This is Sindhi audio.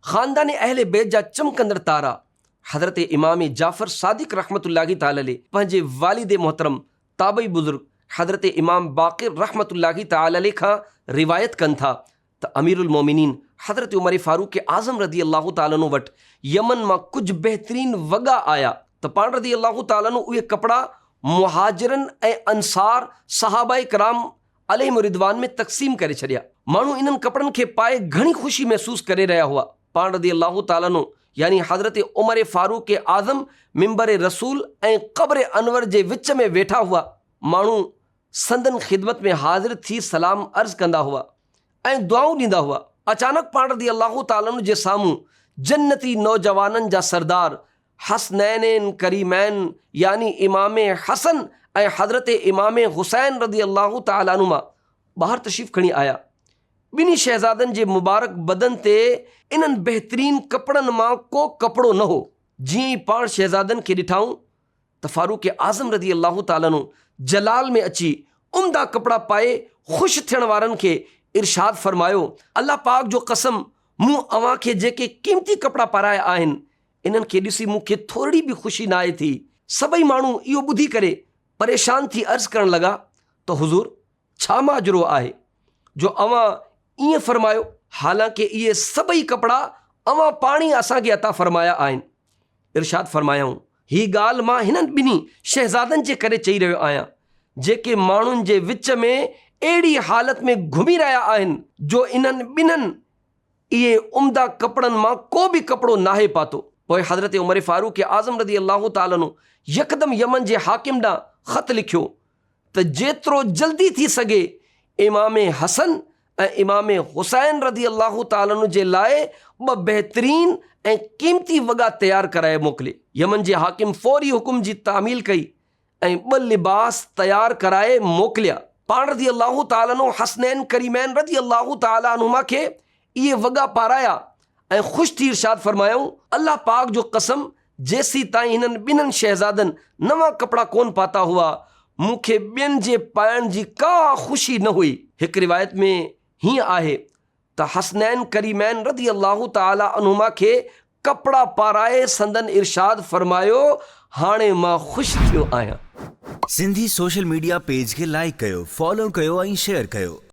خاندان اهل بيت جا چمڪندڙ تارا حضرت امام جعفر صادق رحمة الله تعالٰي عليه پنهنجي والد محترم تابعي بزرگ حضرت امام باقر رحمة الله تعالٰي عليه کان روايت ڪن ٿا ته اميرالمؤمنين حضرت عمر فاروق اعظم رضي الله تعالٰي عنه وٽ يمن مان ڪجهه بهترين وڳا آيا ته پاڻ رضي الله تعالٰي عنه اهي ڪپڙا مهاجرن ۽ انصار صحابه ڪرام عليهم الرضوان ۾ تقسيم ڪري ڇڏيا. ماڻهو انهن ڪپڙن کي پائي گهڻي خوشي محسوس ڪري رهيا هئا. پاڻ رضي الله تعالٰي عنه يعني حضرت عمر فاروق اعظم منبر رسول ۽ قبر انور جي وچ ۾ ويٺا هئا. ماڻهو سندن خدمت ۾ حاضر ٿي سلام عرض ڪندا هئا ۽ دعائون ڏيندا هئا. اچانڪ پاڻ رضي الله تعالٰي عنه جي سامهون جنتي نوجوانن جا سردار حسنينين ڪريمين يعني امام حسن ۽ حضرت امام حسين رضي الله تعالٰي عنهما ٻاهر تشريف کڻي آيا. ٻنهي شهزادن جي مبارڪ بدن تي انهن بهترين ڪپڙن مان ڪو ڪپڙو نه هو. جيئن ئي پاڻ شهزادن کي ڏٺائون ته فاروق اعظم رضي الله تعالٰي عنه جلال ۾ اچي عمدا ڪپڙا پائي خوش ٿيڻ وارن کي ارشاد فرمايو، الله پاڪ جو قسم مون اوهان کي جيڪي قيمتي ڪپڙا پارايا آهن انهن کي ڏسي مون کي ٿورڙي به خوشي ناهي ٿي. سڀئي ماڻهو اهو ٻڌي ڪري پريشان ٿي عرض ڪرڻ لڳا ته حضور! ڇا ماجرو آهي جو اوهان ائين فرمايو؟ حالانڪ اهي سڀئي ڪپڙا اوهان پاڻ ئي اسان کي عطا فرمايا آهن. ارشاد فرمايائون، هي ڳالهه مان هنن ٻنهي شهزادن جي ڪري چئي رهيو آهيان، جيڪي ماڻهن جي وچ ۾ اهڙي حالت ۾ گهمي رهيا آهن جو انهن ٻنهن اهي عمدا ڪپڙن مان ڪو به ڪپڙو ناهي پاتو. پوء حضرت عمر فاروق اعظم رضي الله تعالٰي عنه يڪدم يمن جي حاڪم ڏانهن خط لکيو ته جيترو جلدي ٿي سگهي امام حسن ۽ امام حسين رضي الله تعالٰي عنه جي لاء ٻه بهترين ۽ قيمتي وڳا تيار ڪرائي موڪلي. يمن جي حاڪم فوري حڪم جي تعميل ڪئي ۽ ٻه لباس تيار ڪرائي موڪليا. پاڻ رضي الله تعالٰي عنه حسنين ڪريمين رضي الله تعالٰي عنهما کي اهي وڳا پارايا ۽ خوش ٿي ارشاد فرمايائون، الله پاڪ جو قسم جيسيتائين هنن ٻنهن شهزادن نوان ڪپڙا ڪونه پاتا هئا، مون کي ٻين جي پائڻ جي ڪا خوشي نه هئي. هڪ روايت ۾ هيئن آهي ته حسنين ڪريمين رضي الله تعالٰي عنهما کي ڪپڙا پارائي سندن ارشاد فرمايو، هاڻي مان خوش ٿيو آهيان. سنڌي سوشل ميڊيا پيج کي لائيڪ ڪيو، فالو ڪيو ۽ شيئر ڪيو.